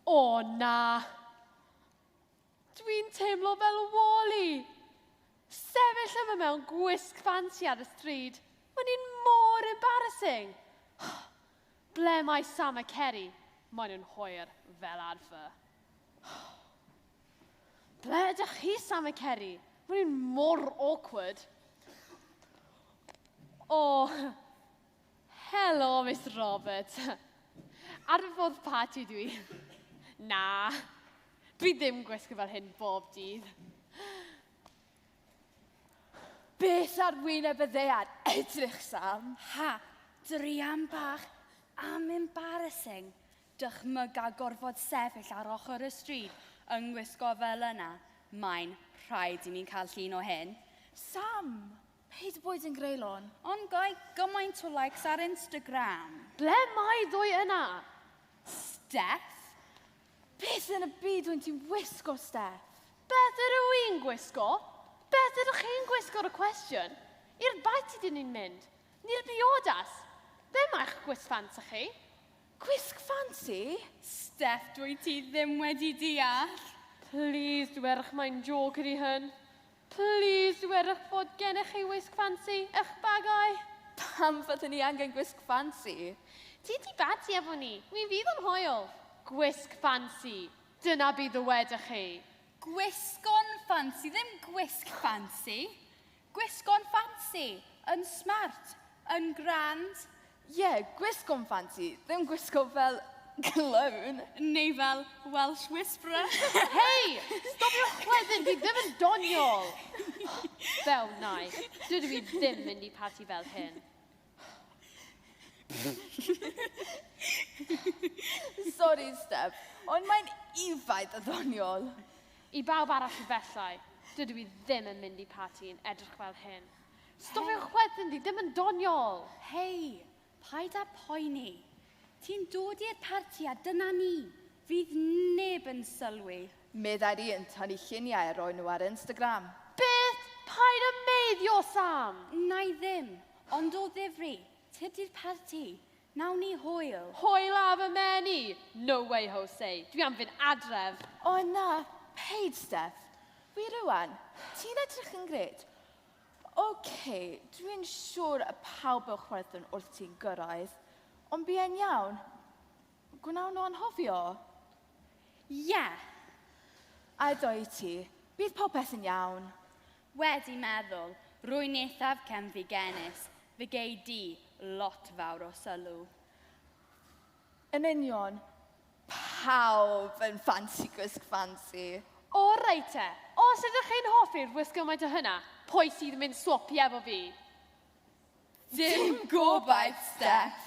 O na! Dwi'n teimlo fel Wally! Sefyll yma mewn gwisg ffansi ar y stryd, mae'n un mor embarrassing! Ble mae Sam a Ceri? Maen nhw'n hwyr, fel arfer. Ble ydych chi, Sam a Ceri? Maen nhw'n mor awkward. O, Helo, Mister Roberts. Ar fy ffordd parti dw i. Na, dwi ddim gwisgo fel hyn bob dydd. Beth ar wyneb y ddear edrych, Sam? Ha, druan bach am embarrassing. Dychmyga gorfod sefyll ar ochr y stryd yng ngwisgo fel yna. Mae'n rhaid i mi cael llun o hyn. Sam, Paid boed yn greulon. Ond gai gymaint o likes ar Instagram? Ble mae ddwy yna? Steff? Beth yn y byd wyt ti'n wisgo, Steff? Beth ydw i'n gwisgo? Beth ydych chi'n gwisgo y cwestiwn? I'r bait ydyn ni'n mynd. Ni'r biodas. Be mae'ch gwisg ffansi chi? Gwisg ffansi? Steff, dwyt ti ddim wedi deall. Please, dwerch, mae'n jôc ydy hyn. Plîs werwch fod gennych chi wisg ffansi ych bagai! Pam fydden ni angen gwisg ffansi? Ti di bati efo ni! Mi fydd o'n hoel! Gwisg ffansi! Dyna be ddywedwch chi! Gwisgon ffansi, ddim gwisg ffansi! Gwisgon ffansi! Yn smart! Yn grand! Ie, gwisg o'n ffansi, ddim gwisgo fel clown. Neu fel Welsh Whisperer. Hei! Stopiwch wedyn, fi ddim yn doniol! Fel nai, dydw i ddim mynd i parti fel hyn. Sori, Steph, ond mae'n ufaid a ddoniol. I bawb arall efallai, dydw i ddim yn mynd i parti yn edrych fel hyn. Stopiwch wedyn, dwi ddim yn doniol! Hei, paid â poeni. Ti'n dod i'r parti a dyna ni. Fydd neb yn sylwi. Meddai'r un tan i lluniau roi nhw ar Instagram. Beth? Paid â meiddio, Sam! Wna i ddim, ond o ddifri, tydi'r parti. Wnawn ni hwyl. Hwyl ar fy mhen i! No way, Jose. Dwi am fynd adref. O na, paid, Steff. Wi rŵan. Ti'n edrych yn grêt. Oce, dwi yn siwr y pawb mewn chwerthin wrth ti'n gyrraedd, ond bu e'n iawn. Gwnawn nhw anhofio? Ie! A doi ti, bydd popeth yn iawn. Wedi meddwl, rwy'n eithaf cefnfigenus, fe gei di lot fawr o sylw. Yn union. Pawb yn ffansi gwisg ffansi. O reit te, os ydych chi'n hoffi'r wisg gymaint o hynna, pwy sydd yn mynd swopio efo fi? Dim gobaith, Steff.